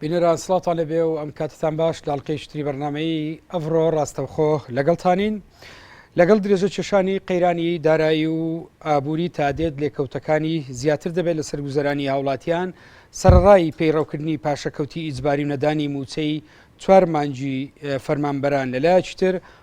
بینەران سڵاتان لەبێ و ئەم کاتتان باش لاڵقەی شتری بەرنمەی ئەڤڕۆ ڕاستەوخۆ لەگەڵتانین لەگەڵ درێژە کێشانی قەیرانی دارایی و ئابووری تادێت لێکەوتەکانی زیاتر دەبێت لە سەرگوزەرانی هاوڵاتیان سەرڕای پەیڕەوکردنی پاشەکەوتی ئیجباری و نەدانی موچەی چوار مانجی فەرمانبەران لەلایەکی تر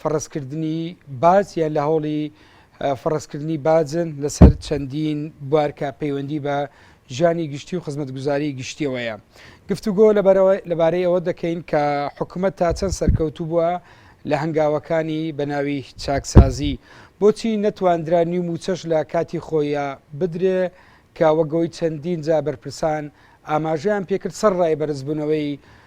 فەڕزکردنی باج یان لە هەوڵی فەڕزکردنی باجن لەسەر چەندین بوار کە پەیوەندی بە ژیانی گشتی و خزمەتگوزاری گشتیەوەیە گفتوگۆ لەبارەی ئەوە دەکەین کە حکوومەت تا چەند سەرکەوتوو بووە لە هەنگاوەکانی بەناوی چاکسازی بۆچی نەتواندرا نیو موچەش لە کاتی خۆیە بدرێ کە وەگەوەی چەندین جا بەرپرسان ئاماژەیان پێکرد سەر ڕای بەرزبوونەوەی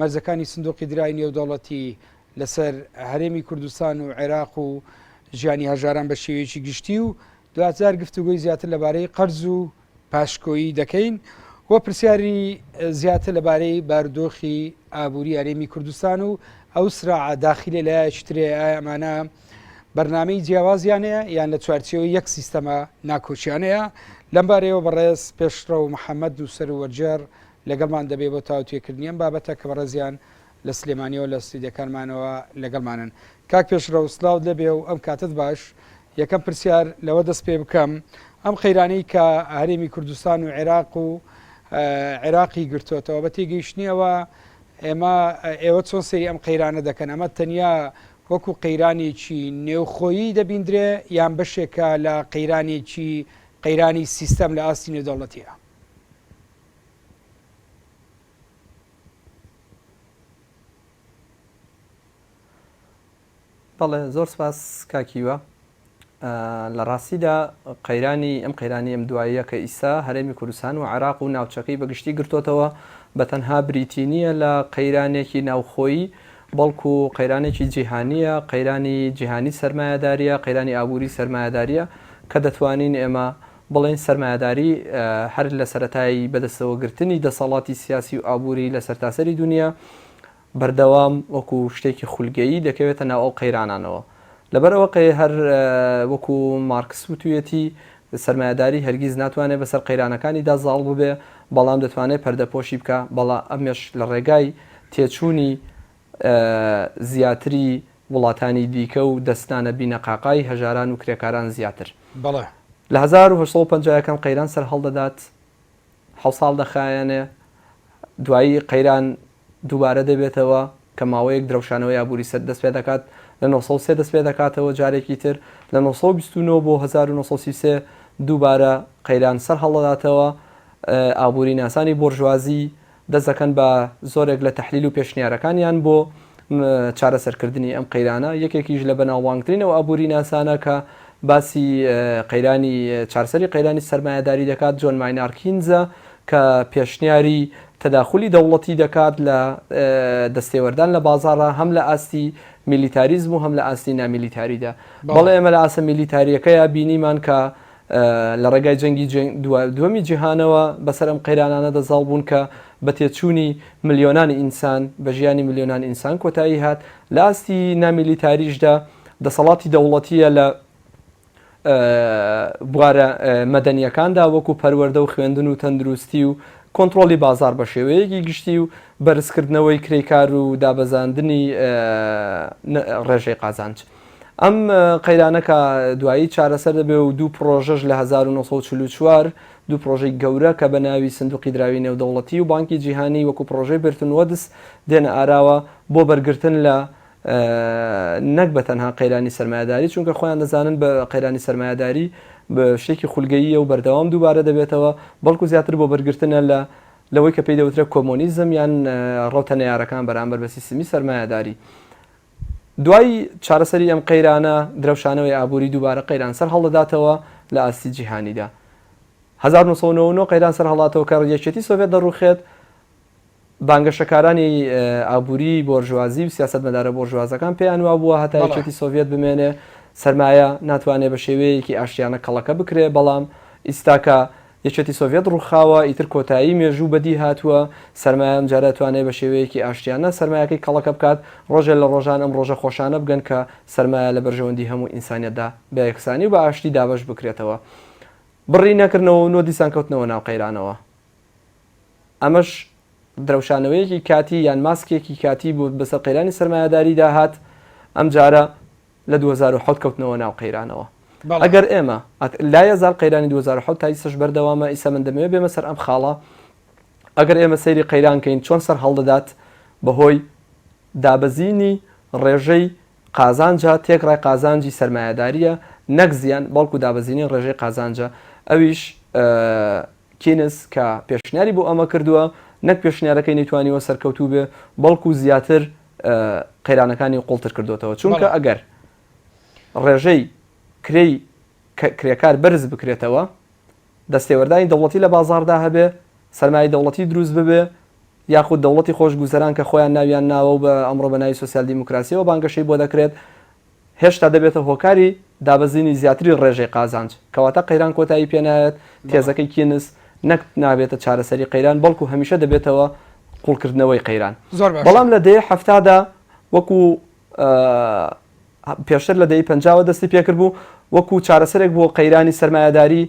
مەرجەکانی سندوقی درای نێودەوڵەتی لەسەر هەرێمی کوردستان و عێراق و ژیانی هەژاران بە شێوەیەکی گشتی و دوجار گفتوگۆی زیاتر لەبارەی قەرز و پاشکۆیی دەکەین و پرسیاری زیاتر لەبارەی بارودۆخی ئابووری هەرێمی کوردستان و ئەو سراع داخلێ لایەکی ترێ ئەمانە بەرنمەی جیاوازیانەیە یان لە چوارچەوە یەک سیستەمە ناکۆچیانەیە لەمبارەیەوە بەڕێز پێشڕە و محەممەد دووسەر وەرجێر لەگەڵمان دەبێت بۆ تاوتوێکردنی ئەم بابەتە کە بەڕێزیان لە سلێمانیەوە لە ستۆدیۆکانمانەوە لەگەڵمانن. کاک پێشڕەو سلاوت لێبێ و ئەم کاتەت باش، یەکەم پرسیار لەوە دەست پێ بکەم ئەم قەیرانەی کە هەرێمی کوردستان و عێراق و عێراقی گرتۆتەوە بە تێگەیشتنی ئەوە ئێمە ئێوە چۆن سەیری ئەم قەیرانە دەکەن ئەمە تەنیا وەکو قەیرانێکی نێوخۆیی دەبیندرێ یان بەشێکە لە قەیرانێکی قەیرانی سیستەم لە ئاستی نێودەوڵەتیە؟ بەڵێ زۆر سپاس کاکیوە لە ڕاستیدا قەیرانی ئەم قەیرانی ئەم دواییە کە ئیسا هەرێمی کوردستان و عراق و ناوچەکەی بەگشتی گرتوتەوە بە تەنها بریتی نییە لە قەیرانێکی ناوخۆیی بەڵکو و قەیرانێکی جیهانیە قەیرانی جیهانی سەرمایهداریە قەیرانی ئابووری سەرمایهداریە کە دەتوانین ئێمە بڵێین سەرمایەداری هەر لە سەرەتای بەدەستەوەگرتنی دەسەڵاتی سیاسی و ئابووری لە سەرتاسەری دونیا بەردەوام وەکو شتێکی خولگەیی دەکەوێتە ناو ئەو قەیرانانەوە لەبەر ئەوە قەی هەر وەکو مارکس وتویەتی سەرمایەداری هەرگیز ناتوانێ بەسەر قەیرانەکانیدا زاڵ ببێ بەڵام دەتوانێ پەردەپۆشی بکا بەڵا ئەمەش لە ڕێگای تێچوونی زیاتری وڵاتانی دیکە و دەستانە بینەقاقای هەژاران و کرێکاران زیاتر بەڵێ. لە هەزار و هەشت سەد و پەنجا ەکان قەیران سەرهەڵدەدات حەوت ساڵ دەخایەنێ دوایی قەیران دووبارە دەبێتەوە کە ماوەیەک درەوشانەوەی ئابووری سەر دەست پێ دەکات لە نۆ سەد و سێ دەست پێ دەکاتەوە جارێکی تر لە نۆ سەد و بیست و نۆ بۆ هەزار و نۆ سەد و سی و سێ دووبارە قەیران سەرهەڵدەداتەوە ئابووری ناسانی بۆرژوازی دەست دەکەن بە زۆرێک لە تەحلیل و پێشنیارەکانیان بۆ چارەسەرکردنی ئەم قەیرانە، یەکێکیش لە بەناوبانگترین ئەو ئابووریناسانە کە باسی قەیرانی چارەسەری قەیرانی سەرمایەداری دەکات جۆن ماینار کینزە کە پێشنیاری تەداخولی دەوڵەتی دەکات لە دەستێوەردان لە بازاڕا هەم لە ئاستی میلیتاریزم و هەم لە ئاستی نامیلیتاریدا بەڵێ ئێمە لە ئاستە میلیتاریەکەیا بینیمان کە لە ڕێگای جەنگی دووەمی جیهانەوە بەسەر ئەم قەیرانانەدا زاڵ بوون کە بە تێچوونی ملیۆنان ئینسان، بە ژیانی ملیۆنان ئینسان کۆتایی هات. لە ئاستی نامیلیتاریشدا دەسەڵاتی دەوڵەتییە لە بوارە مەدەنییەکاندا وەکوو پەروەردە و خوێندن و تەندروستی و کۆنترۆڵی بازاڕ بە شێوەیەکی گشتی و بەرزکردنەوەی کرێکار و دابەزاندنی ڕێژەی قازانج. ئەم قەیرانە کە دوایی چارەسەر دەبێ و دوو پرۆژەش لە 1944 دوو پرۆژەی گەورە کە بە ناوی سندوقی دراوی نێودەوڵەتی و بانکی جیهانی وەکو پرۆژەی برتن وەدس دێنە ئاراوە بۆ بەرگرتن لە نەک بە تەنها قەیرانی سەرمایەداری چونکە خۆیان دەزانن بە قەیرانی سەرمایەداری شتێکی خولگەییە و بەردەوام دووبارە دەبێتەوە بەڵکو زیاتر بۆ بەرگرتنە لە لەوەی کە پێی دەوترێت کۆمۆنیزم یان ڕەوتە نەیارەکان بەرامبەر بە سیستمی سەرمایەداری دوای چارەسەری ئەم قەیرانە، درەوشانەوەی ئابووری دووبارە قەیران سەرهەڵدەداتەوە لە ئاستی جیهانیدا. هەزار و نۆ سەد و نەوە و نۆ قەیران سەرهەڵاتەوە کە یەکێتی سۆڤێت دەڕووخێت، بانگەشەکارانی ئابووری بۆرژوازی و سیاسەتمەدارە بۆرژوازەکان پێیان وابووە هەتا یەکێتی سۆڤێت بمێنێ سەرمایە ناتوانێ بە شێوەیەکی ئاشتیانە کەڵەکە بکرێ، بەڵام ئیستاکە یەکێتی سۆڤیەت ڕووخاوە، ئیتر کۆتایی مێژوو بەدی هاتووە، سەرمایە ئەمجارە ئەتوانێ بە شێوەیەکی ئاشتیانە سەرمایەکەی کەڵەکە بکات، ڕۆژێ لە ڕۆژان ئەم ڕۆژە خۆشانە بگەن کە سەرمایە لە بەرژەوەندی هەموو ئینسانیەتدا بە یەکسانی و بە ئاشتی دابەش بکرێتەوە. بڕی نەکردنەوە و نۆ دیسان کەوتنەوە ناو قەیرانەوە. ئەمەش درەوشانەوەیەکی کاتی یان ماسکێکی کاتی بوو بەسەر قەیرانی سەرمایەداریدا هات، ئەمجارە. لە دوو هەزار و حەوت کەوتنەوە ناو قەیرانەوە بەڵێ. ئەگەر ئێمە ئەک لایە زال قەیرانی دوو هەزار و حەوت تا ئیستەش بەردەوامە ئیستا من دەمەوێ بێمە سەر ئەم خاڵە ئەگەر ئێمە سەیری قەیران کەین چۆن سەر هەڵدەدات بەهۆی دابەزینی ڕێژەی قازانجە تێکڕای قازانجی سەرمایەداریە نەک زیان بەڵکو دابەزینی ڕێژەی قازانجە ئەویش کینس کە پێشنیاری بۆ ئەمە کردوە نەک پێشنیارەکەی نەیتوانیوە سەرکەوتوو بێ بەڵکو زیاتر قەیرانەکانی قوڵتر کردۆتەوە چونکە ئەگەر ڕێژەی کرێی کرێکار بەرز بکرێتەوە دەستێوەردانی دەوڵەتی لە بازاردا هەبێ سەرمایه دەوڵەتی دروست ببێ یاخود دەوڵەتی خۆشگوزەران کە خۆیان ناویان ناوە و بە ئەمڕۆ بە ناوی سوسیال دیموکراسیەوە بانگەشەی بۆ دەکرێت هێشتا دەبێتە هۆکاری دابەزینی زیاتری ڕێژەی قازانج، کەواتە قەیران کۆتایی پێ نایەت، تێزەکەی کینس نەک نابێتە چارەسەری قەیران، بەڵکو هەمیشە دەبێتەوە قوڵکردنەوەی قەیران. زۆر باشە. بەڵام لە دەیەی حەفتادا وەکو پێشتر لە دەیەی پەنجاوە دەستی پێکرد بوو، وەکو چارەسەرێک بۆ قەیرانی سەرمایەداری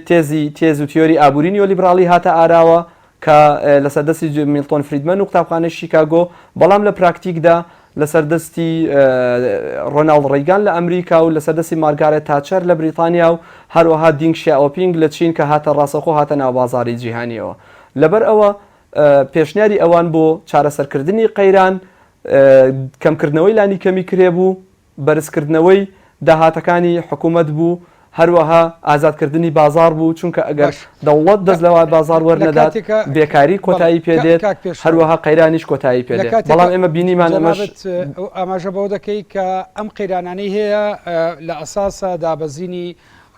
تێزی تێز و تیۆری ئابووری نیۆلیبراڵی هاتە ئاراوە کە لەسەر دەستی ج میلتۆن فریدمەن و قوتابخانەی شیکاگۆ، بەڵام لە پراکتیکدا لەسەر دەستی ڕۆناڵد ڕیگان لە ئەمریکا و لەسەر دەستی مارگارێت تاچەر لە بریتانیا و هەروەها دینگ شیائۆپینگ لە چین کە هاتە ڕاستەوخۆ هاتە ناو بازاڕی جیهانییەوە. لەبەر ئەوە پێشنیاری ئەوان بۆ چارەسەرکردنی قەیران کەمکردنەوەی لانیکەمی کرێ بوو، بەرزکردنەوەی داهاتەکانی حکومەت بوو، هەروەها ئازادکردنی بازاڕ بوو، چونکە ئەگەر دەوڵەت دەست لە بازاڕ وەرنەدات، بێکاری کۆتایی پێدێت، هەروەها قەیرانیش کۆتایی پێدێت، بەڵام ئێمە بینیمان ئەمەش.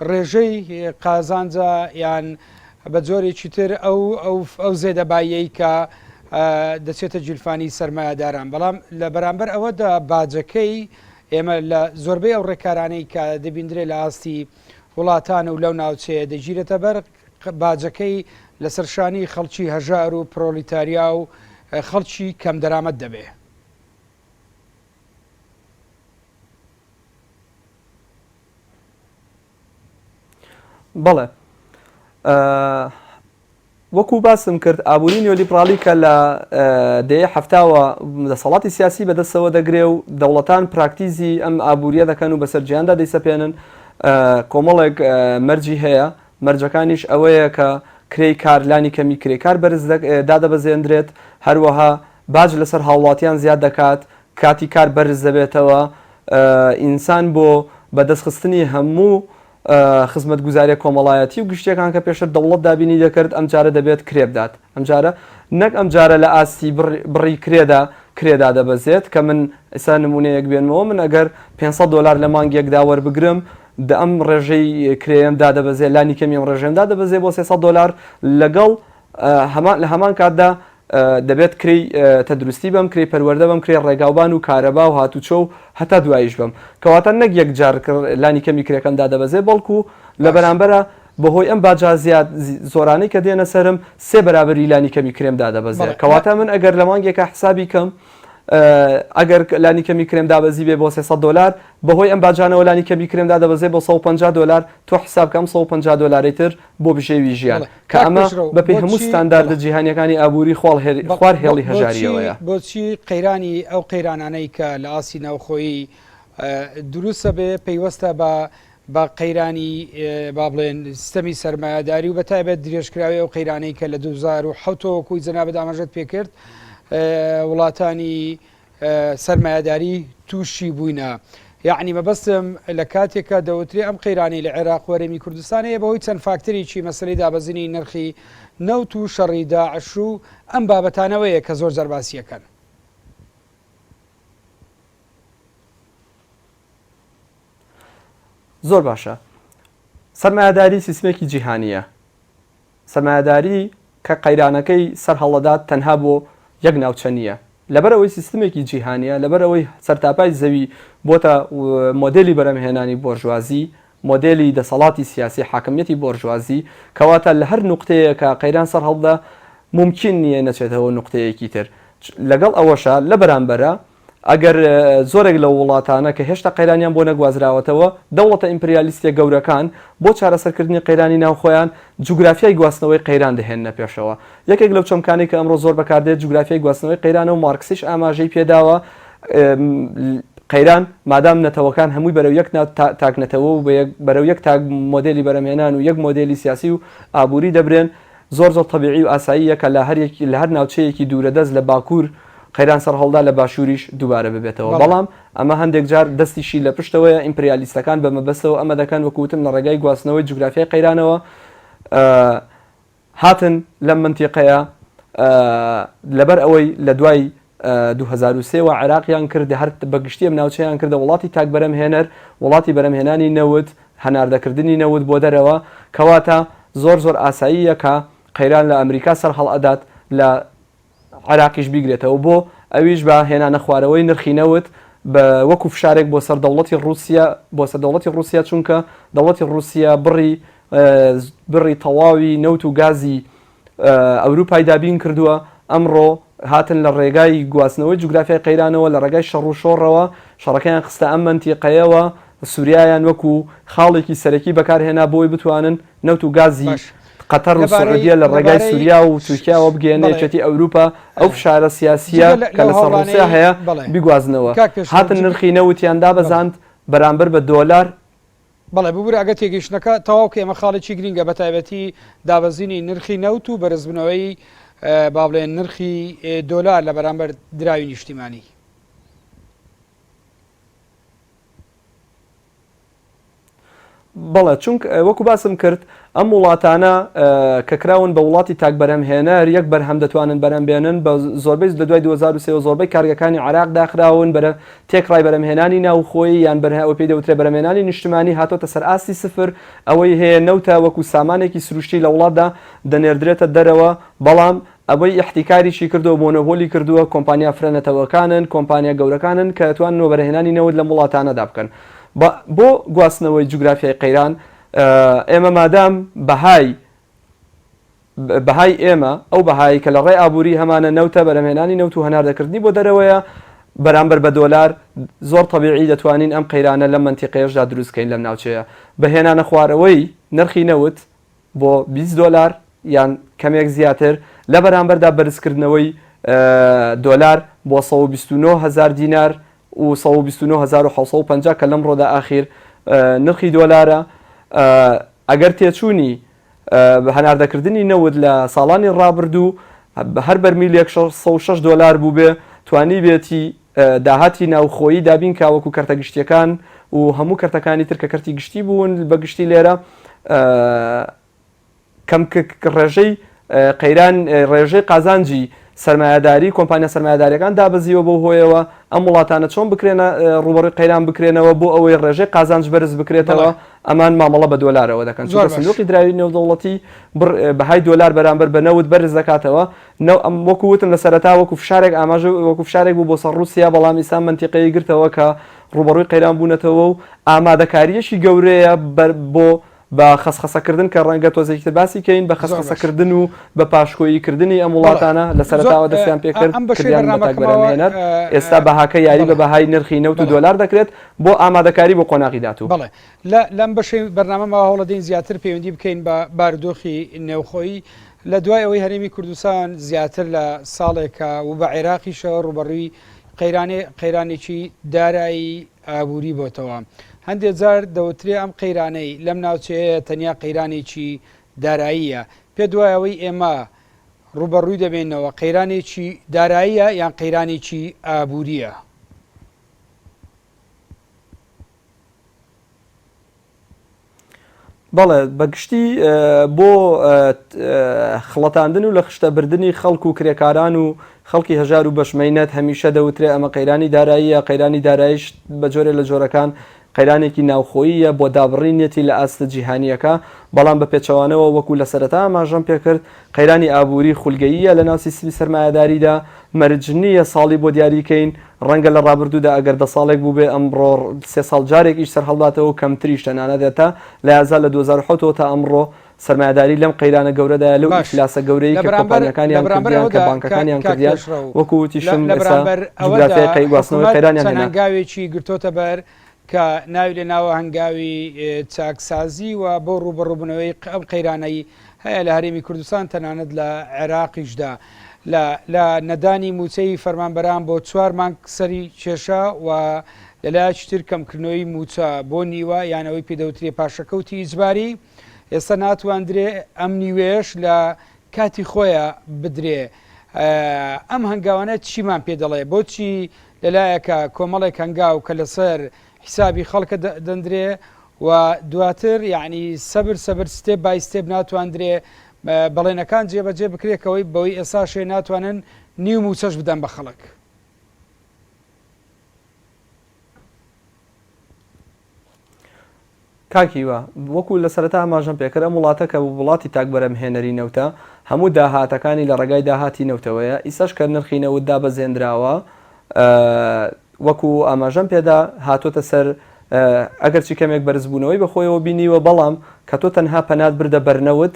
ڕێژەی قازانجە یان بە جۆرێکی تر ئەو ئەو زێدەباییەی کە دەچێتە گیرفانی سەرمایەداران بەڵام لە بەرامبەر ئەوەدا باجەکەی ئێمە لە زۆربەی ئەو ڕێکارانەی کە دەبیندرێت لە ئاستی وڵاتان و لەو ناوچەیە دەگیرێتە بەر باجەکەی لەسەر شانی خەڵکی هەژار و پرۆلیتاریا و خەڵکی کەم دەرامەت دەبێ بەڵێ وەکو باسم کرد ئابووری نیۆلیبرالی کە لە دەیە هەفتاوە دەسەڵاتی سیاسی بەدەستەوە دەگرێ و دەوڵەتان پراکتیزی ئەم ئابووریە دەکەن و بەسەر جیاندا دەیسەپێنن کۆمەڵێک مەرجی هەیە مەرجەکانیش ئەوەیە کە کرێی کارلانی کەمی کرێکار بەرز دادەبەزێندرێت هەروەها باج لەسەر هاوڵاتیان زیاد دەکات، کاتی کار بەرز دەبێتەوە، ئینسان بۆ بەدەست خستنی هەموو خزمەتگوزاریە کۆمەڵایەتی و گشتیەکان کە پێشتر دەوڵەت دابینی دەکرد ئەمجارە دەبێت کرێ بدات ئەمجارە نەک ئەمجارە لە ئاستی بڕی کرێدا کرێ دادەبەزێت کە من ئێستا نمونەیەک بێنمەوە من ئەگەر پێنج سەد دۆلار لە مانگێکدا وەربگرم دە ئەم ڕێژەی کرێم دادەبەزێ لانی کەمی ئەم ڕێژەم دادەبەزێ بۆ سێ سەد دۆلار لەگەڵ هەمان لە هەمان کاتدا دەبێت کرێی تەدروستی بەم، کرێی پەروەردە بەم، کرێی ڕێگاوبان و کارەبا و هاتوچۆ و هەتا دواییش بەم. کەواتە نەک یەک جار لانی کەمی کرێکەم دادەبەزێ، بەڵکو لە بەرامبەرا بەهۆی ئەم باجە زیاد زۆرانەی کە دێنە سەرم، سێ بەرابەری لانی کەمی کرێم دادەبەزێ. کەواتە من ئەگەر لە مانگێکا حسابی کەم، ئەگەر لانی کەمی کرێم دابەزیبێ بۆ سێ سەد دۆلار، بەهۆی ئەم باجانەوە لانی کەمی کرێم دادەبەزێ بۆ سەد و پەنجا دۆلار، تۆ حساب کە ئەم سەد و پەنجا دۆلارەی تر، بۆ بژێوی ژیان، کە ئەمە بەپێی هەموو ستانداردە جیهانییەکانی ئابووری خوار هێڵی هەژارییەوەیە. بۆچی قەیرانی ئەو قەیرانانەی کە لە ئاستی ناوخۆیی دروستە بێ پەیوەستە بە بە قەیرانی با بڵێن سیستەمی سەرمایەداری و بە تایبەت درێژکراوی ئەو قەیرانەی کە لە 2007 وەکوی جەنابت ئاماژەت پێکرد وڵاتانی سەرمایەداری تووشی بووینە. یەعنی مەبەستم لە کاتێکە دەوترێ ئەم قەیرانەی لە عێراق و هەرێمی کوردستان هەیە بەهۆی چەند فاکتەرێکی مەسەلەی دابەزینی نرخی نەوت و شەڕی داعش و ئەم بابەتانەوەیە کە زۆر جار باسی ئەکەن. زۆر باشە. سەرمایەداری سیستمێکی جیهانییە. سەرمایەداری کە قەیرانەکەی سەر هەڵدەدات تەنها بۆ یەک ناوچە نییە، لەبەر ئەوەی سیستمێکی جیهانییە، لەبەر ئەوەی سەرتاپای زەوی بۆتە مۆدێلی بەرهەمهێنانی بۆرژوازی، مۆدێلی دەسەڵاتی سیاسی، حاکمیەتی بۆرژوازی، کەواتە لە هەر نوقتەیەکە قەیران سەرهەڵبدا مومکین نییە نەچێتەوە نوقتەیەکی تر، لەگەڵ ئەوەشا لە بەرامبەرا ئەگەر زۆرێک لەو وڵاتانە کە هێشتا قەیرانیان بۆ نەگوازراوەتەوە، دەوڵەتە ئیمپریالیستییە گەورەکان بۆ چارەسەرکردنی قەیرانی ناوخۆیان، جوگرافیای گواستنەوەی قەیران دەهێننە پێشەوە. یەکێک لەو چەمکانەی کە ئەمڕۆ زۆر بەکاردێت، جوگرافیای گواستنەوەی قەیرانە و مارکسیش ئاماژەی پێداوە، قەیران مادام نەتەوەکان هەمووی بەرەو یەک تاک نەتەوە و بەرەو یەک تاک مۆدێلی بەرهەمهێنان و یەک مۆدێلی سیاسی و ئابووری دەبرێن، زۆر زۆر تەبیعی و ئاساییە کە لە هەر ناوچەیەکی دوورەدەست لە باکوور، قەیران سەرهەڵدا لە باشووریش دووبارە ببێتەوە. بەڵام ئەمە هەندێک جار دەستیشی لە پشتەوەیە، ئیمپریالیستەکان بە مەبەستەوە ئەمە دەکەن، وەکو وتم لە ڕێگای گواستنەوەی جوگرافیای قەیرانەوە هاتن لەم مەنتیقەیە، لەبەر ئەوەی لە دوای دوو هەزار و سێ وە عێراقیان کرد، هەر بە گشتی ئەم ناوچەیان کردە وڵاتی تاک بەرەمهێنەر، وڵاتی بەرەمهێنانی نەوت، هەناردەکردنی نەوت بۆ دەرەوە، کەواتە زۆر زۆر ئاساییە کە قەیران لە ئەمریکا سەرهەڵئەدات لە عێراقیش بیگرێتەوە بۆ ئەویش بە هێنانە خوارەوەی نرخی نەوت بە وەکو فشارێک بۆ سەر دەوڵەتی ڕووسیە بۆ سەر دەوڵەتی ڕووسیە چونکە دەوڵەتی ڕووسیە بڕی بڕی تەواوی نەوت و گازی ئەوروپای دابین کردووە ئەمڕۆ هاتن لە ڕێگای گواستنەوەی جوگرافیای قەیرانەوە لە ڕێگای شەڕ و شۆڕەوە شەڕەکەیان خستە ئەم مەنتیقەیەوە سوریایان وەکو خاڵێکی سەرەکی بەکارهێنا بۆی بتوانن نەوت و گازی قەتەر و سعودیە لە ڕێگای سوریا و تورکیاوە بگەیەننە یەکێتی ئەوروپا، ئەو فشارە سیاسییە کە لەسەر ڕوسیا هەیە بیگوازنەوە. هاتن نرخی نەوتیان دابەزاند بەرامبەر بە دۆلار. بەڵێ ببورە ئەگەر تێگەیشتنەکە تەواو کەی ئەمە خاڵێکی گرینگە بە تایبەتی دابەزینی نرخی نەوت و بەرزبنەوەی با بڵێن نرخی دۆلار لە بەرامبەر دراوی نیشتیمانی. بەڵێ چونک وەکو باسم کرد ئەم وڵاتانە کە کراون بە وڵاتی تاک بەرهەمهێنەر یەک بەرهەم دەتوانن بەرەم بێنن بە زۆربەی لە دوای 2023 زۆربەی کارگەکانی عراق داخراون بەرە تێک ڕای بەرەمهێنانی ناوخۆی یان بەرهەوە پێی دەوترێ بەرەمێنانی نیشتمانی هاتۆتە سەر ئاستی سفر ئەوەی هەیە نەوتە وەکو سامانێکی سروشتی لە وڵاتدا دەنێردرێتە دەرەوە بەڵام ئەوەی ئیحتیکاریی کردو مۆنۆبۆلی کردووە کۆمپانیا فرە نەتەوەکانن، کۆمپانیا گەورەکانن کە ئەتوانن وەبەرهێنانی نەوت لەم وڵاتانەدا بکەن. با بۆ گواستنەوەی جوگرافیای قەیران، ئێمە مادام بەهای بەهای ئێمە، ئەو بەهایەی کە لە ڕێی ئابووری هەمانە نەوتە، بەرهەمێنانی نەوت و هەناردەکردنی بۆ دەرەوەیە بەرامبەر بە دۆلار، زۆر تەبیعی دەتوانین ئەم قەیرانە لەم مەنتیقەیەشدا دروست بکەین لەم ناوچەیە بە هێنانەخوارەوەی نرخی نەوت، بۆ بیست دۆلار یان کەمێک زیاتر، لە بەرامبەردا بەرزکردنەوەی دۆلار بۆ سەد و بیست و نۆ هەزار دینار و سەد و بیست و نۆ هەزار و حەوت سەد و پەنجا کە لەمڕۆدا ئاخیر نرخی دۆلارە، ئەگەر تێچوونی هەناردەکردنی نەوت لە ساڵانی ڕابردوو هەر بەرمیلێک شەش سەد و شەش دۆلار بووبێ، توانیبێتی داهاتی ناوخۆیی دابین کا وەکو کەرتە گشتیەکان و هەموو کەرتەکانی تر کە کەرتی گشتی بوون بە گشتی لێرە کەم ڕێژەی قەیران ڕێژەی قازانجی سرمایهداری کۆمپانیا سرمایهدارەکان دابەزیوە بۆ هۆیەوە ئەم وڵاتانە چۆن بکرێنە ڕوبەڕی قەیران بکرێنەوە بۆ ئەوەی ڕێژەی قازانج بەرز بکرێتەوە ئەمان مامەڵە بە دۆلارەوە دەکەن سندوقی دراوی نێودەوڵەتی بەهای دۆلار بەرامبەر بە نەوت بەرز دەکاتەوە نە ئەم وەکو وتم لە سەرەتا وەکو فشارێک ئاماژە وەکو فشارێک بوو بۆ سەر ڕووسیا بەڵام ئیستا مەنتیقەی گرتەوە کە ڕووبەڕووی قەیران بوونەتەوە و ئامادەکارییەکی گەورەیە بەر بۆ بە خەسخەسە کردن کە ڕەنگە تۆزێکی تر باسی کەین بە زۆر خەسخەسە باش. کردن و بە پاشکۆیی کردنی ئەم بەڵێ وڵاتانە لە زۆر سەرەتاوە دەستیان پێ ئا کرد ئەم بەشەی کردیان بە تاک بەرانی بەرنامەکەمەوە هێنەر ئێستا بەهاکە یاری بە بەڵێ بەهای نرخی نەوت و بەڵێ دۆلار دەکرێت بۆ ئامادەکاری بۆ قۆناغی داتوو. بەڵێ لە لەم بەشەی بەرنامەمەوە هەوڵەدەین زیاتر پەیوەندی بکەین بە بارودۆخی نێوخۆیی لە دوای ئەوەی هەرێمی کوردستان زیاتر لە ساڵێکە و بە عێراقیشەوە ڕووبەڕووی قەیرانێکی دارایی ئابووری بۆتەوە، هەندێ جار دەوترێ ئەم قەیرانەی لەم ناوچەیەیە تەنیا قەیرانێکی داراییە، پێت وایە ئەوەی ئێمە ڕووبەڕووی دەبینەوە قەیرانێکی داراییە یان قەیرانێکی ئابوورییە؟ بەڵێ بە گشتی بۆ خڵەتاندن و لە خشتە بردنی خەڵک و کرێکاران و خەڵکی هەژار و بەشمەینەت هەمیشە دەوترێ ئەمە قەیرانی داراییە قەیرانی دارایش بە جۆرێ لە جۆرەکان قەیرانێکی ناوخۆییە بۆ دابڕینیەتی لە ئاستە جیهانیەکە بەڵام بە پێچەوانەوە وەکو لە سەرەتا ئاماژەم پێکرد قەیرانی ئابووری خولگەییە لەناو سیستمی سەرمایەداریدا، مەرج نییە ساڵی بۆ دیاری کەین، ڕەنگە لە ڕابردوودا ئەگەر دە ساڵێک بووبێ ئەمڕۆ سێ ساڵ جارێک ئیش سەرهەڵباتەوە و کەمتریش تەنانەت هەتا لە ئازار لە دوو هەزار و حەوت ەوە تا ئەمڕۆ سەرمایەداری لەم قەیرانە گەورەدایە لەو باش ئیفلاسە گەورەی لە کە برانبەر لە کۆمپانیاکانیان برانبەر کردیان کە ئەوەدا کە بانکەکانیان کاک کردیان پێشڕەو وەکو لە وتیشم لە ئێستا برانبەر ئەوەدا جوگرافیای قەی گواستنەوەی حکومەت قەیرانیان چەند هێنا. هەنگاوێکی گرتۆتە بەر کە ناوی لە ناوە هەنگاوی چاکسازی و بۆ ڕووبەڕووبوونەوەی ئەم قەیرانەی هەیە لە هەرێمی کوردستان تەنانەت لە عێراقیشدا لە لە نەدانی مووچەی فەرمانبەران بۆ چوار مانگ سەری کێشا و لە لایەکی تر کەمکردنەوەی مووچە بۆ نیوە یان ئەوەی پێدەوترێ پاشەکەوتی ئیجباری ئێستا ناتواندرێ ئەم نیوەیەش لە کاتی خۆیە بدرێ ئەم هەنگاوانە چیمان پێ دەڵێ بۆچی لەلایەکە کۆمەڵێک هەنگاو کە لەسەر حیسابی خەڵکە دەندرێ و دواتر یعنی سەبر سەبر ستێپ بای ستێپ ناتواندرێ بەڵێنەکان جێبەجێ بکرێکەوەی بەوەی ئێستا شێ ناتوانن نیو موچەش بدەن بە خەڵک. کاک هیوا، وەکو لە سەرەتا ئاماژەم پێکرد، ئەم وڵاتە کە وڵاتی تاک بەرهەمهێنەری نەوتە، هەموو داهاتەکانی لە ڕێگای داهاتی نەوتەوەیە، ئیستاش کە نرخی نەوت دابەزێنراوە، وەکو ئاماژەم پێدا هاتۆتە سەر، ئەگەرچی کەمێک بەرزبوونەوەی بەخۆیەوە بینیوە، بەڵام کە تۆ تەنها پەنات بردە بەر نەوت،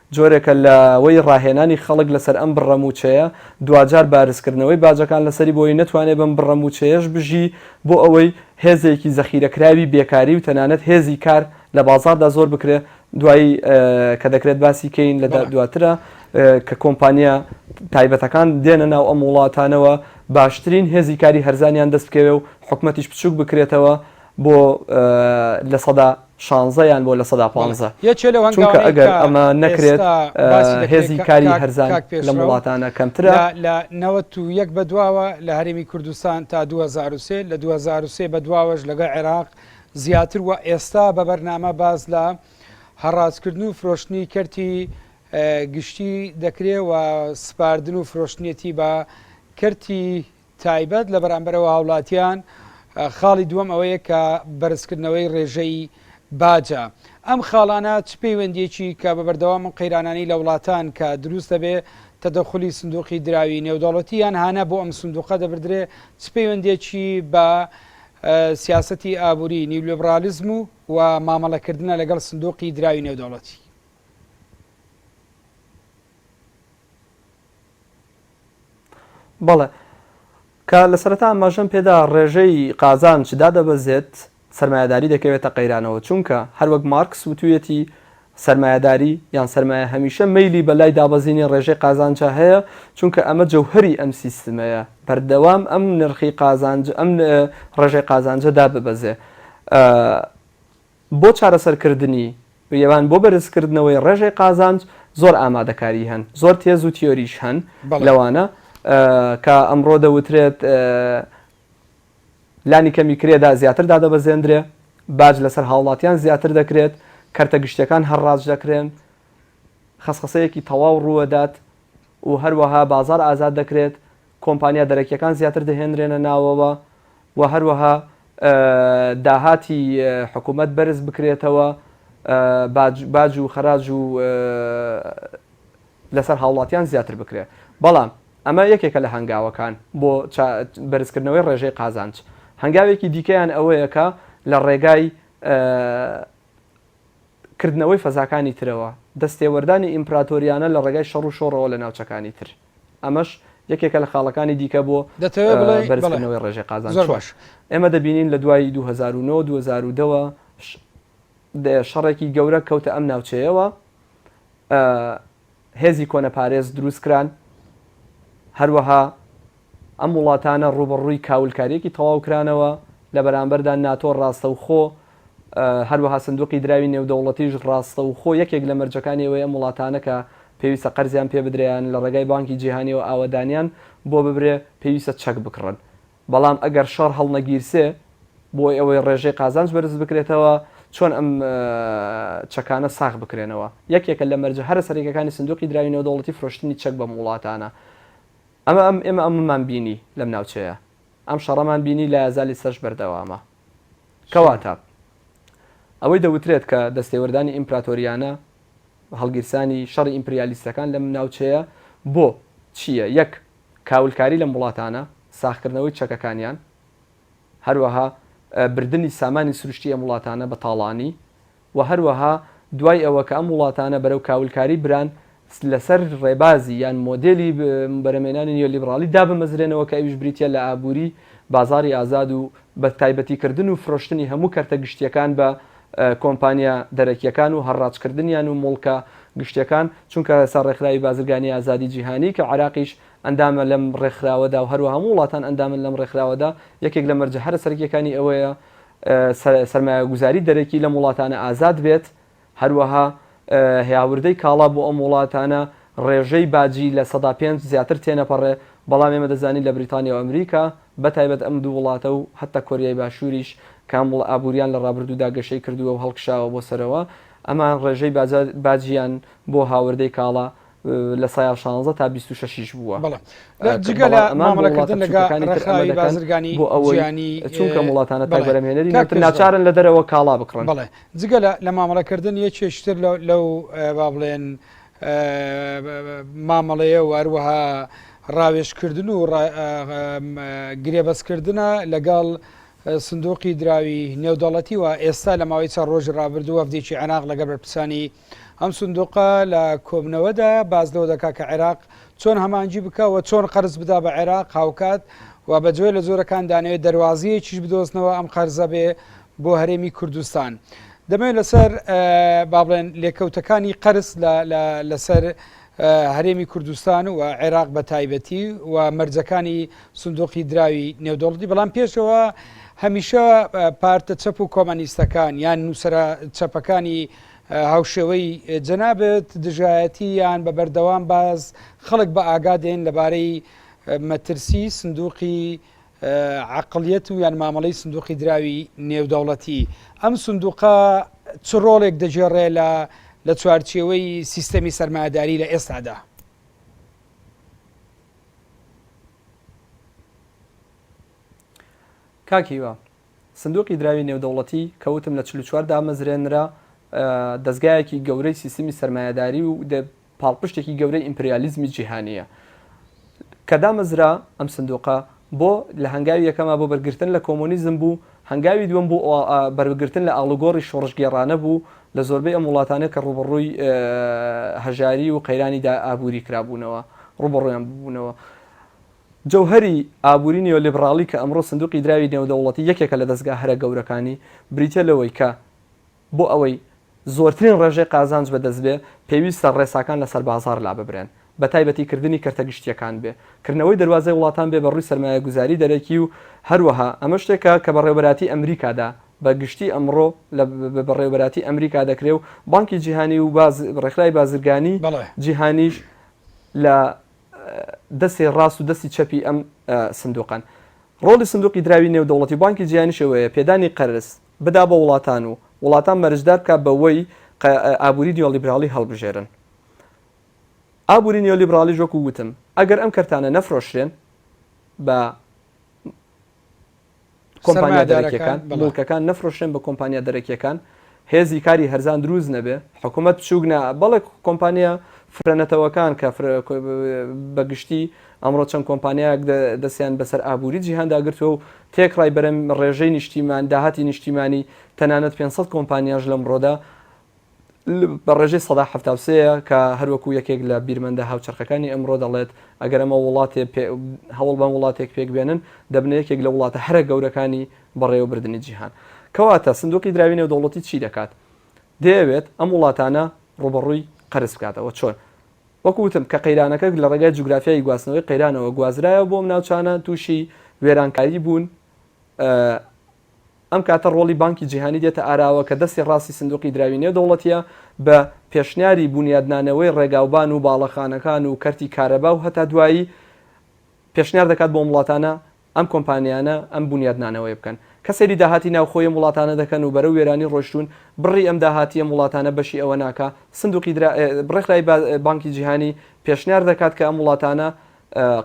جۆرێکە لە وەی ڕاهێنانی خەڵک لەسەر ئەم بڕە مووچەیە، دواجار بارزکردنەوەی باجەکان لەسەری بۆی نەتوانێ بەم بڕە مووچەیەش بژی، بۆ ئەوەی هێزێکی زەخیرەکراوی بێکاری و تەنانەت هێزی کار لە بازاڕدا زۆر بکرێ، دوایی کە دەکرێت باسی کەین لە دواترا کە کۆمپانیا تایبەتەکان دێنە ناو ئەم وڵاتانەوە باشترین هێزی کاری هەرزانیان دەست بکەوێ و حکومەتیش بچووک بکرێتەوە بۆ لە سەدا شانزە یان بۆ لە سەدا پانزە چونکە ئەگەر ئەمە نەکرێت هێزی کاری هەرزان لەم وڵاتانە کەمترە. لە نەوەت و یەک بەدواوە لە هەرێمی کوردستان تا دوو هەزار و سێ، لە دوو هەزار و سێ بەدواوەش لەگەڵ عێراق زیاتر و ئێستا بە بەرنامە باس لە هەڕاجکردن و فرۆشتنی کەرتی گشتی دەکرێ و سپاردن و فرۆشتنیەتی بە کەرتی تایبەت لە بەرامبەرەوە هاوڵاتیان، خاڵی دووەم ئەوەیە کە بەرزکردنەوەی ڕێژەی باجە. ئەم خاڵانە چ پەیوەندیەکی کە بە بەردەوام ئەم قەیرانانەی لە وڵاتان کە دروست دەبێ تەدەخولی سندوقی دراوی نێودەوڵەتی یان هانە بۆ ئەم سندوقە دەبردرێ چ پەیوەندیەکی بە سیاسەتی ئابووری نیولیبرالیزم و و مامەڵەکردنە لەگەڵ سندوقی دراوی نێودەوڵەتی. بەڵێ. کە لە سەرەتا ئاماژەم پێ دا، ڕێژەی قازانج دادەبەزێت، سەرمایەداری دەکەوێتە قەیرانەوە، چونکە هەر وەک مارکس وتوویەتی، سەرمایەداری یان سەرمایە هەمیشە مەیلی بە لای دابەزینی ڕێژەی قازانجە هەیە، چونکە ئەمە جەوهەری ئەم سیستمەیە، بەردەوام ئەم نرخی قازانج، ئەم ڕێژەی قازانجە داببەزێ. بۆ چارەسەرکردنی، یان بۆ بەرزکردنەوەی ڕێژەی قازانج زۆر ئامادەکاری هەن، زۆر تێز و تیۆریش هەن، لەوانە کە ئەمڕۆ دەوترێت لانی کەمی کرێدا زیاتر دادەبەزێندرێ، باج لەسەر هاوڵاتیان زیاتر دەکرێت، کەرتە گشتیەکان هەرڕاج دەکرێن، خەسخەسەیەکی تەواو ڕووەدات و هەروەها بازاڕ ئازاد دەکرێت، کۆمپانیا دەرەکییەکان زیاتر دەهێنرێنە ناوەوە و هەروەها داهاتی حکوومەت بەرز بکرێتەوە، باج و خەراج و لەسەر هاوڵاتیان زیاتر بکرێت. بەڵام ئەمە یەکێکە لە هەنگاوەکان بۆ بەرزکردنەوەی ڕێژەی قازانج. هەنگاوێکی دیکەیان ئەوەیە کە لە ڕێگای کردنەوەی فەزاکانی ترەوە، دەستێوەردانی ئیمپراتۆریانە لە ڕێگای شەڕ و شۆڕەوە لە ناوچەکانی تر. ئەمەش یەکێکە لە خاڵەکانی دیکە بۆ دەتەوێت بڵێی؟ بەرز بەڵێ. کردنەوەی ڕێژەی قازانج. زۆر چۆن؟ باش. ئێمە دەبینین لە دوای دوو هەزار و نۆ، دوو هەزار و دە وە ش دە شەڕێکی گەورە کەوتە ئەم ناوچەیەوە. هێزی کۆنەپارێز دروستکران، هەروەها ئەم وڵاتانە ڕووبەڕووی کاولکارییەکی تەواو کرانەوە، لە بەرامبەردا ناتۆ ڕاستەوخۆ، هەروەها سندوقی دراوی نێودەوڵەتیش ڕاستەوخۆ یەکێک لە مەرجەکانی ئەوەی ئەم وڵاتانە کە پێویستە قەرزیان پێبدرێ یان لە ڕێگای بانکی جیهانی و ئاوەدانیان بۆ ببرێ پێویستە چەک بکڕن بەڵام ئەگەر شەڕ هەڵنەگیرسێ بۆ ئەوەی ڕێژەی قازانج بەرز بکرێتەوە، چۆن ئەم چەکانە ساغ بکرێنەوە؟ یەکێکە لە مەرجە هەرە سەرەکیەکانی سندوقی دراوی نێودەوڵەتی فرۆشتنی چەک بەم وڵاتانە. ئەمە ئەم ئێمە ئەمەمان بینی لەم ناوچەیە. ئەم شەڕەمان بینی لە ئازا لیسەش بەردەوامە. کەواتە ئەوەی دەوترێت کە دەستێوەردانی ئیمپراتۆریانە، هەڵگیرسانی شەڕی ئیمپریالیستەکان لەم ناوچەیە بۆ چییە؟ یەک. کاولکاری لەم وڵاتانە، ساغکردنەوەی چەکەکانیان، هەروەها بردنی سامانی سروشتی ئەم وڵاتانە بە تاڵانی و هەروەها دوای ئەوە کە ئەم وڵاتانە بەرەو کاولکاری بران لەسەر ڕێبازی یان مۆدێلی بەرەمێنانی نیۆلیبڕالی دابمەزرێنەوە کە ئەویش بریتیە لە ئابووری بازاری ئازاد و بە تایبەتیکردن و فرۆشتنی هەموو کەرتە گشتیەکان بە کۆمپانیا دەرەکییەکان و هەڕاجکردنیان و موڵکە گشتییەکان، چونکە ئێستا ڕێکخراوی بازرگانی ئازادی جیهانی کە عێراقیش ئەندامە لەم ڕێکخراوەدا و هەروەها هەموو وڵاتان ئەندامن لەم ڕێکخراوەدا، یەکێک لە مەرجە هەرە سەرەکییەکانی ئەوەیە سەرمایەگوزاری دەرەکی لەم وڵاتانە ئازاد بێت، هەروەها هاوردەی کاڵا بۆ ئەم وڵاتانە ڕێژەی باجی لە سەدا پێنج زیاتر تێنەپەڕێ، بەڵام ئێمە دەزانین لە بریتانیا و ئەمریکا بەتایبەت ئەم دوو وڵاتە و هەتا کۆریای باشووریش کە ئەم وڵ ئابووریان لە ڕابردوودا گەشەی کردووە و هەڵکشاوە بۆ سەرەوە ئەمان ڕێژەی باجە باجیان بۆ هاوردەی کاڵا لە سایە شانزە تا بیست و شەشیش بووە جگە لە مامەڵەکردن لەگە ڕێکخراوی بازرگانی بۆ ئەوەیانی چونکە وڵاتانە تاگەرەمێنەری ناچارن لە دەرەوە کاڵا بکڕن بڵێ جگە لە مامەڵەکردن یە چێشتر لەو با بڵێن مامەڵەیە و هەروەها ڕاوێشکردن و گرێبەستکردە لەگەڵ سندوقی دراوی نێودەڵەتی و ئێستا لە ماوەی چە ڕۆژ ڕابردوو وەفدێکی عێراق لەگە بەرپرسانی ئەم سندوقە لە کۆبنەوەدایە باس لەوە دەکات کە عێراق چۆن هەمانجی بکە و چۆن قەرز بدا بە عێراق هاوکات و بە جۆێ لە جۆرەکان دانەوێت دەواازیەکیش بدۆستنەوە ئەم قەرزە بێ بۆ هەرێمی کوردستان. دەمێت لەسەر با بڵێن لێکەوتەکانی قەرز لەسەر هەرێمی کوردستان و عێراق بە تایبەتی و مەرجەکانی سندۆقی دراوی نێودۆڵدی بەڵام پێشەوە هەمیشە پارتە چەپ و کۆمەنیستەکان یان نووسرە چەپەکانی هاوشێوەی جەنابت دژایەتی یان بە بەردەوام باز خەڵک بە ئاگا دێن لەبارەی مەترسی سندوقی عقلیەت و یان مامەڵەی سندوقی دراوی نێودەوڵەتی ئەم سندوقە چ ڕۆڵێک دەگێڕێ لە لە چوارچێوەی سیستەمی سەرمایداری لە ئێستادا کاکیوە سندوقی دراوی نێودەوڵەتی کە وتم لە چل و چوار دامەزرێنرا، دەزگایەکی گەورەی سیستمی سەرمایەداری و پاڵپشتێکی گەورەی ئیمپریالیزمی جیهانییە. کە دامەزرا ئەم سندوقە بۆ لە هەنگاوی یەکەما بۆ بەرگرتن لە کۆمۆنیزم بوو، هەنگاوی دووەم بۆ بەرگرتن لە ئاڵوگۆڕی شۆڕشگێڕانە بوو لە زۆربەی ئەم وڵاتانە کە ڕووبەڕووی هەژاری و قەیرانی ئابووری کرابوونەوە، ڕووبەڕوویان ببوونەوە. جەوهەری ئابووری نیۆلیبڕاڵی کە ئەمڕۆ سندووقی دراوی نێودەوڵەتی یەکێکە لە دەزگا هەرە گەورەکانی، بریتییە لەوەی کە بۆ ئەوەی زۆرترین ڕێژەی قازانج بەدەست بێ، پێویستە ڕێساکان لەسەر بازاڕ لاببرێن، بەتایبەتی کردنی کەرتە گشتییەکان بێ کردنەوەی دەروازەی وڵاتان بێ بە ڕووی سەرمایەگوزاری دەرەکی و هەروەها ئەمە شتێکە کە بەڕێوەبەراتی ئەمریکادا بە گشتی ئەمڕۆ لە بەڕێوەبەراتی ئەمریکا دەکرێ و بانکی جیهانی و ڕێکخراوی بازرگانی جیهانیش لە دەستێ ڕاست و دەستی چەپی ئەم سندوقەن. ڕۆڵی سندوقی دراوی نێودەوڵەتی و بانکی جیهانیش ئەوەیە پێدانی قەرز بدا بە وڵاتان و وڵاتان مەرجدار بکات بەوەی ئابووری نیۆلیبراڵی هەڵبژێرن. ئابووری نیۆلیبراڵیش وەکو وتم ئەگەر ئەم کەرتانە نەفرۆشرێن بە کۆمپانیا دەرەکیەکان موڵکەکان نەفرۆشرێن بە کۆمپانیا دەرەکیەکان هێزی کاری هەرزان دروست نەبێ حکوومەت بچووک نا بەڵێ کۆمپانیا فرەنەتەوەکان کە بەگشتی ئەمڕۆ چەند کۆمپانیایەک دەستیان بەسەر ئابووری جیهانداگرتووە و تێکڕای بەرەم ڕێژەی نیشتیمان داهاتی نیشتیمانی تەنانەت 500 کۆمپانیاش لەمڕۆدا بە ڕێژەی سەدا حەفتا و سێ ە کە هەروەکو یەکێک لە بیرمەندە هاوچەرخەکانی ئەمڕۆ دەڵێت ئەگەر ئەمە وڵاتێ پێ هەوڵ بەم وڵاتێک پێک بێنن دەبنە یەکێک لە وڵاتە هەرە گەورەکانی بەڕێوە بردنی جیهان کەواتە سندوقی دراوی نێودەوڵەتی چی دەکات دەیەوێت ئەم وڵاتانە ڕوبەڕووی قەرز بکاتەوە چۆن وەکو وتم کە قەیرانەکە لە ڕێگای جوگرافیای گواستنەوەی قەیرانەوە گوازرایەوە بۆم ناوچانە تووشی وێرانکاری بوون ئەم کاتە ڕۆڵی بانکی جیهانی دێتە ئاراوە کە دەستی ڕاستی سندوقی دراوی نێودەوڵەتییە بە پێشنیاری بونیادنانەوەی ڕێگاوبان و باڵەخانەکان و کەرتی کارەبا و هەتا دوایی پێشنیار دەکات بۆ ئەم وڵاتانە ئەم کۆمپانیانە ئەم بونیادنانەوەیە بکەن کە سەیری داهاتی ناوخۆی ئەم وڵاتانە دەکەن و بەرەو وێرانی ڕۆشتوون بڕی ئەم داهاتی ئەم وڵاتانە بەشی ئەوە ناکا سندوقی درا ڕێکخرای بانکی جیهانی پێشنیار دەکات کە ئەم وڵاتانە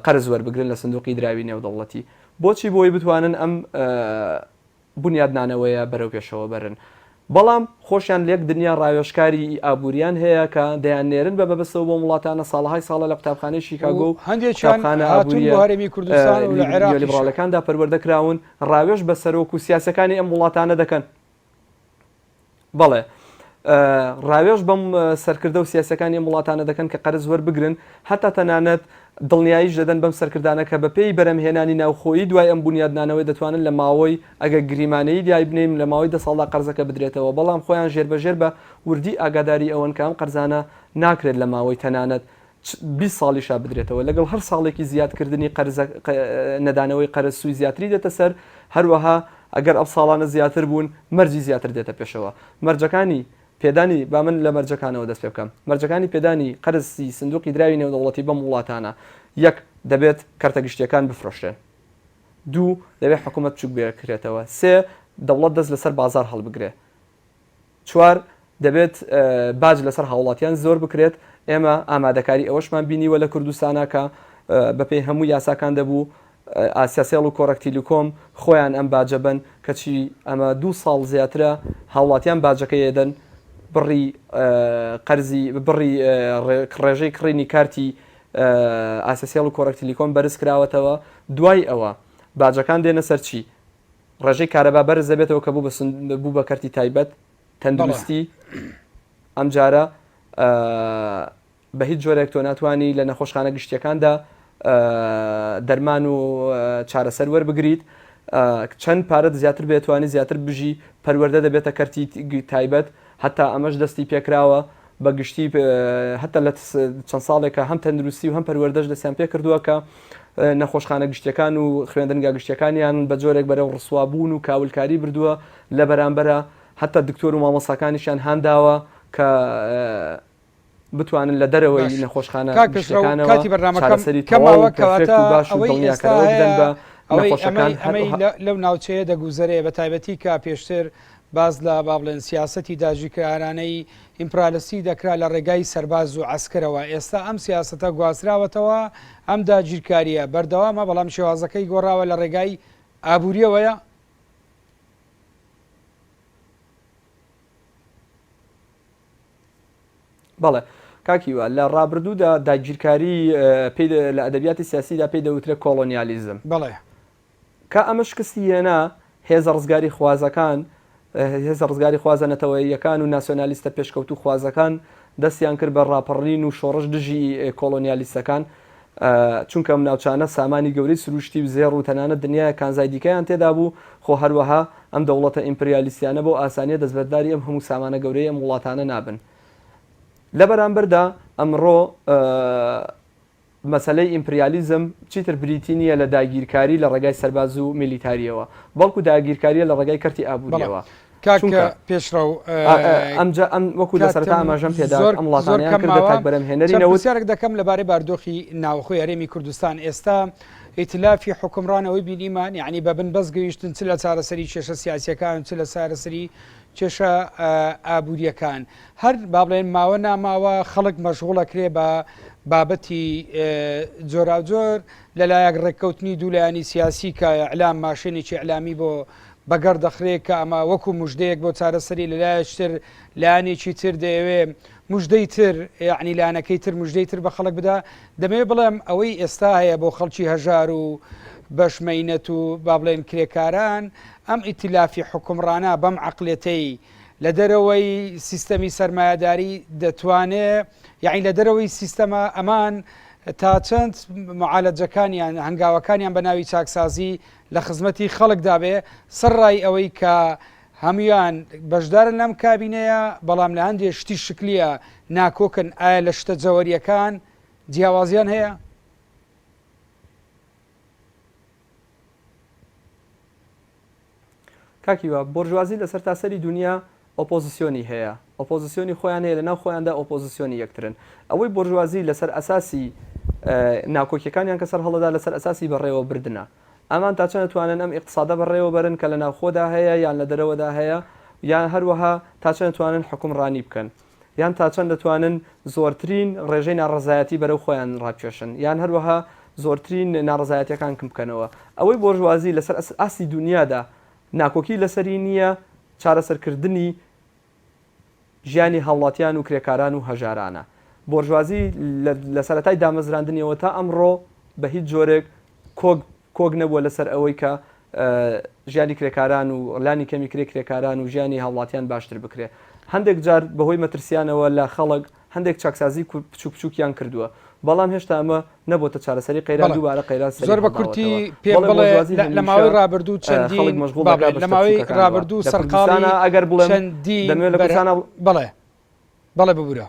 قەرز وەربگرن لە سندوقی دراوی نێودەوڵەتی بۆچی بۆی بتوانن ئەم بونیادنانەوەیە بەرەوپێشەوە بەرن بەڵام خۆشیان لەک دنیا ڕاوێژکاری ی ئابوریان هەیە کە دەیان نێرن بە بەبەستەوە بۆم وڵاتانە ساڵەهای ساڵە لە قوتابخانەی شیکاگۆ و قوتابخانە ئابوریە نیولیبڕالەکاندا پەروەردە کراون ڕاوێژ بە سەرۆک و سیاسەکانی ئەم وڵاتانە دەکەن. بەڵێ ڕاوێژ بەم سەرکردە و سیاسەکانی ئەم وڵاتانە دەکەن کە قەرز وەربگرن هەتا تەنانەت دڵنیاییش دەدەن بەم سەرکردانە کە بەپێی بەرەمهێنانی ناوخۆیی دوای ئەم بنیادنانەوەی دەتوانن لە ماوەی ئەگە گریمانەیی دیای بنین لە ماوەی دە ساڵدا قەرزەکە بدرێتەوە بەڵام خۆیان ژێربەژێر بە وردی ئاگاداری ئەوەن کە ئەم قەرزانە ناکرێت لە ماوەی تەنانەت چ بیست ساڵیشە بدرێتەوە، لەگەڵ هەر ساڵێکی زیادکردنی قەرزە نەدانەوەی قەرز سووی زیاتری دێتە سەر، هەروەها ئەگەر ئەو ساڵانە زیاتر بوون مەرجی زیاتر دێتە پێشەوە. مەرجەکانی پێدانی، با من لە مەرجەکانەوە دەست پێ بکەم، مەرجەکانی پێدانی قەرزی سندووقی دراوی نێودەوڵەتی بەم وڵاتانە، یەک، دەبێت کەرتە گشتییەکان بفرۆشرێن. دوو، دەبێت حکوومەت بچووک بکرێتەوە. سێ، دەوڵەت دەست لەسەر بازاڕ هەڵبگرێ. چوار، دەبێت باج لەسەر هاوڵاتیان زۆر بکرێت، ئێمە ئامادەکاری ئەوەشمان بینیوە لە کوردستانا کە بەپێی هەموو یاساکان دەبوو ئاسیاسێڵ و کۆڕەک تیلیکۆم خۆیان ئەم باجە بەن کەچی ئەمە دوو ساڵ زیاترە هاوڵاتیان باجەکەی ئەدەن بڕی قەرزی بڕی ڕێژەی کڕینی کارتی ئاسیاسێڵ و کۆڕەک تیلیکۆم بەرز کراوەتەوە دوای ئەوە باجەکان دێنە سەر چی؟ ڕێژەی کارەبا بەرز دەبێتەوە کە بوو بە کەرتی تایبەت تەندروستی ئەمجارە بە هیچ جۆرێک تۆ ناتوانانی لە نەخۆشخانە گشتیەکاندا دەرمان و چارەسەر وەربگریت چەند پارەت زیاتر بێتوانی زیاتر بژی پەروەەردە دەبێتە کەرتی تایبەت هەتا ئەمەش دەستی پێکراوە بە گشتی هەتا لە چەند ساڵێکە هەم تەندروستی و هەم پەروەردەش دەستیان پێ کردووە کە نەخۆشخانە گشتیەکان و خوێندنگا گشتیەکانیان بە جۆرێک بەرەو ڕسوابوون و کاولکاری بردووە لە بەرامبەرە هەتا دکتۆر و مامۆساکانیشیان هانداوە کە بتوانن لە دەرەوەی نەخۆشخانە گشتیەکانەوە چارەسەری تەواو و پێرفێکت و باش و دڵنیاکەرەوە بدەن بە نەخۆشەکان. هەر ئەوەی ئێستا ئەمەی لەو ناوچەیە دەگوزەرێ بە تایبەتی کە پێشتر باس لە با بڵێن سیاسەتی داگیرکەرانەی ئیمپرالیستی دەکرا لە ڕێگای سەرباز و عەسکەرەوە، ئێستا ئەم سیاسەتە گواستراوەتەوە، ئەم داگیرکارییە بەردەوامە بەڵام شێوازەکەی گۆڕاوە لە ڕێگای ئابوورییەوەیە؟ بەڵێ کاک هیوا، لە ڕابردوودا داگیرکاری پێی دە لە ئەدەبیاتی سیاسیدا پێی دەوترێ کۆڵۆنیالیزم. بەڵێ. کە ئەمە شکستی هێنا، هێزە ڕزگاریخوازەکان، هێزە ڕزگاریخوازە نەتەوەییەکان و ناسیۆنالیستە پێشکەوتووخوازەکان دەستیان کرد بە ڕاپەڕین و شۆڕش دژی کۆڵۆنیالیستەکان. چونکە ئەم ناوچانە سامانی گەورەی سرووشتی و زێڕ و تەنانەت دنیایەک کانزای دیکەیان تێدا بوو، خۆ هەروەها ئەم دەوڵەتە ئیمپریالیستیانە بەو ئاسانییە دەستبەرداری ئەم هەموو سامانە گەورەی ئەم وڵاتانە نابن. لە بەرامبەردا ئەمڕۆ مەسەلەی ئیمپریالیزم چیتر بریتی نییە لە داگیرکاری لە ڕێگای سەرباز و میلیتارییەوە، بەڵکو داگیرکارییە لە ڕێگای کەرتی ئابوورییەوە. کاک پێشڕەو ئەمجا ئەم وەکو لە سەرتا ئاماژەم پێدا زۆر ئەم وڵاتانەیان کردە کاک بەرەم هێنەری نەوت پرسیارێک دەکەم لەبارەی باردۆخی ناوخۆی هەرێمی کوردستان ئێستا ئیتلافی حکمڕانەوەی بینیمان یعنی بە بن بەس گەیشتن چ لە چارەسەری کێشە سیاسەکان چ لە چارەسەری کێشە ئابوووریەکان هەر با بڵێن ماوە ناماوە خەڵک مەشغوڵە کرێ بە بابەتی جۆراوجۆر لەلایەک ڕێککەوتنی دوولایانی سیاسی کە ئەلام ماشێنێکی ئەلامی بۆ بەگەڕ دەخرێ کە ئەمە وەکو مژدەیەک بۆ چارەسەری لەلایەک تر لایەنێکی تر دەیەوێ مژدەی تر یەعنی لایەنەکەی تر مژدەی تر بە خەڵک بدا دەمەوێ بڵێم ئەوەی ئێستا هەیە بۆ خەڵکی هەژار و بەش مەینەت و با بڵێن کرێکاران ئەم ئیتیلافی حکومڕانە بەم عقلێتەی لە دەرەوەی سیستەمی سەرمایەداری دەتوانێ یعنی لە دەرەوەی سیستەمە ئەمان تا چەند معالەجەکانیان هەنگاوەکانیان بە ناوی چاکسازی لە خزمەتی خەڵکدا بێ، سەرڕای ئەوەی کە هەموان بەشدارن لەم کابینەیە، بەڵام لە هەندێ شتی شکلیە ناکۆکن، ئایا لە شتە جەوەریەکان جیاوازیان هەیە؟ کاک هیوا، بۆرژوازی لە سەرتاسەری دونیا ئۆپۆزسیۆنی هەیە، ئۆپۆزسیۆنی خۆیان هەیە، لەناو خۆیاندا ئۆپۆزسیۆنی یەکترن. ئەوەی بۆرژوازی لەسەر ئەساسی ناکۆکیەکانیان کە سەرهەڵدەدا لەسەر ئەساسی بەڕێوەبردنە. ئەمان تا چەند ئەتوانن ئەم ئیقتسادە بەڕێوەبەرن کە لەناوخۆدا هەیە یان لە دەرەوەدا هەیە، یان هەروەها تا چەند ئەتوانن حوکمڕانی بکەن، یان تا چەند ئەتوانن زۆرترین ڕێژەی ناڕەزایەتی بەرەو خۆیان ڕابکێشن، یان هەروەها زۆرترین ناڕەزایەتیەکان کم بکەنەوە. ئەوەی بۆرژوازی لەسەر ئاستی دونیادا ناکۆکی لەسەری نییە چارەسەرکردنی ژیانی هاوڵاتیان و کرێکاران و هەژارانە. بۆرژوازی لە سەرەتای دامەزراندنیەوە تا ئەمڕۆ بە هیچ جۆرێک کۆک کۆک نەبووە لەسەر ئەوەی کە ژیانی کرێکاران و لانی کەمی کرێ کرێکاران و ژیانی هاوڵاتیان باشتر بکرێ. هەندێک جار بەهۆی مەترسیانەوە لە خەڵک، هەندێک چاکسازی بچوک بچوکیان کردووە، بەڵام هێشتا ئەمە نەبۆتە چارەسەری قەیران دووبارە قەیران سەری هەڵداوەتەوە، بەڵێ بۆرژوازی هەمیشە خەڵک مەشغوڵ دەکات بە شتە بچوکەکانەوە، لە کوردستانا ئەگەر بڵێم دەمەوێت لە کوردستانا. بەڵێ ببورە.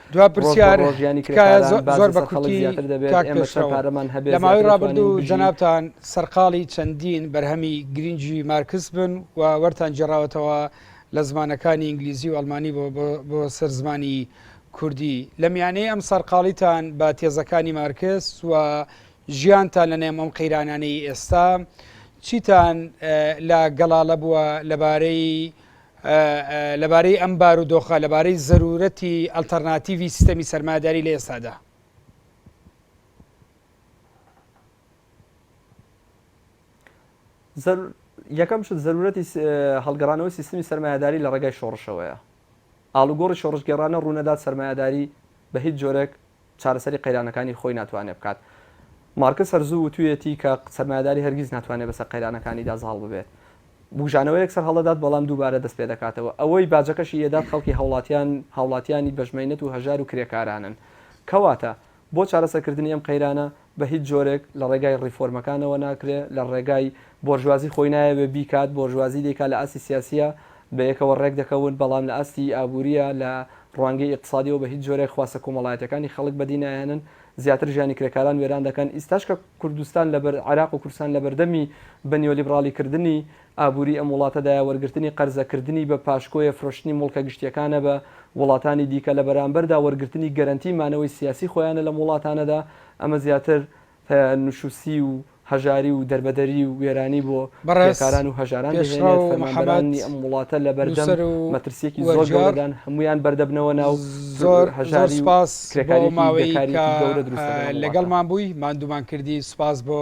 دوا پرسیار، تکایە زۆر بە کورتی کاک پێشڕەو، لە ماوەی ڕابردوو جەنابتان سەرقاڵی چەندین بەرهەمی گرینگی مارکس بن و وەرتان گێڕاوەتەوە لە زمانەکانی ئینگلیزی و ئەڵمانی بۆ سەر زمانی کوردی، لە میانەی ئەم سەرقاڵیتان بە تێزەکانی مارکس و ژیانتان لە نێم ئەم قەیرانانەی ئێستا چیتان لا گەڵاڵە بووە لە بارەی لەبارەی ئەم بارودۆخە، لەبارەی زەروورەتی ئەلتەرناتیڤی سیستەمی سەرمایەداری لە ئێستادا. یەکەم شت زەروورەتی هەڵگەڕانەوەی سیستمی سەرمایەداری لە ڕێگای شۆڕشەوەیە. ئاڵوگۆڕی شۆڕشگێڕانە ڕوونەدات سەرمایەداری بە هیچ جۆرێک چارەسەری قەیرانەکانی خۆی ناتوانێت بکات. مارکس هەر زوو وتوویەتی کە سەرمایەداری هەرگیز ناتوانێت بەسەر قەیرانەکانیدا زاڵ ببێت. بووژانەوەیەک سەرهەڵدەدات بەڵام دووبارە دەست پێ دەکاتەوە. ئەوەی باجەکەشی ئەدات خەڵکی هاوڵاتیان، هاوڵاتیانی بەشمەینەت و هەژار و کرێکارانن. کەواتە، بۆ چارەسەرکردنی ئەم قەیرانە، بە هیچ جۆرێک لە ڕێگای ڕیفۆرمەکانەوە ناکرێ، لە ڕێگای بۆرژوازی خۆی نایەوێ بیکات، بۆرژوازی دەیکات لە ئاستی سیاسییە بەیەکەوە ڕێک دەکەون، بەڵام لە ئاستی ئابوورییە لە ڕوانگەی ئیقتسادییەوە بە هیچ جۆرێک خواستە کۆمەڵایەتییەکانی خەڵک بەدی نایەنن، زیاتر ژیانی کرێکاران وێران دەکەن، ئیستاش کە کوردستان لەبەر عێراق و کوردستان لەبەردەمی بە نیۆلیبڕاڵیکردنی ئابوری ئەم وڵاتەدایە وەرگرتنی قەرزە کردنی بە پاشکۆیە فرۆشتنی موڵکە گشتیەکانە بە وڵاتانی دیکە لە بەرامبەردا وەرگرتنی گەرەنتی مانەوەی سیاسی خۆیانە لەم وڵاتانەدا ئەمە زیاتر نشوسی و هەژاری و دەربەدەری و وێرانی بۆ بەڕێز کرێکاران و هەژاران دەهێنێت پێشڕەو محەمەد فەرمانبەرانی ئەم وڵاتە لە بەردەم نووسەر و مەترسیەکی زۆر وەرگێڕ گەورەدان هەموویان بەردەبنەوە ناو زۆر زۆر هەژاری و سوپاس بۆ ئەو کرێکاریەکی ماوەی گەورە کە دروستە دەڵێم وڵاتە. لەگەڵمان بووی ماندوومان کردی سوپاس بۆ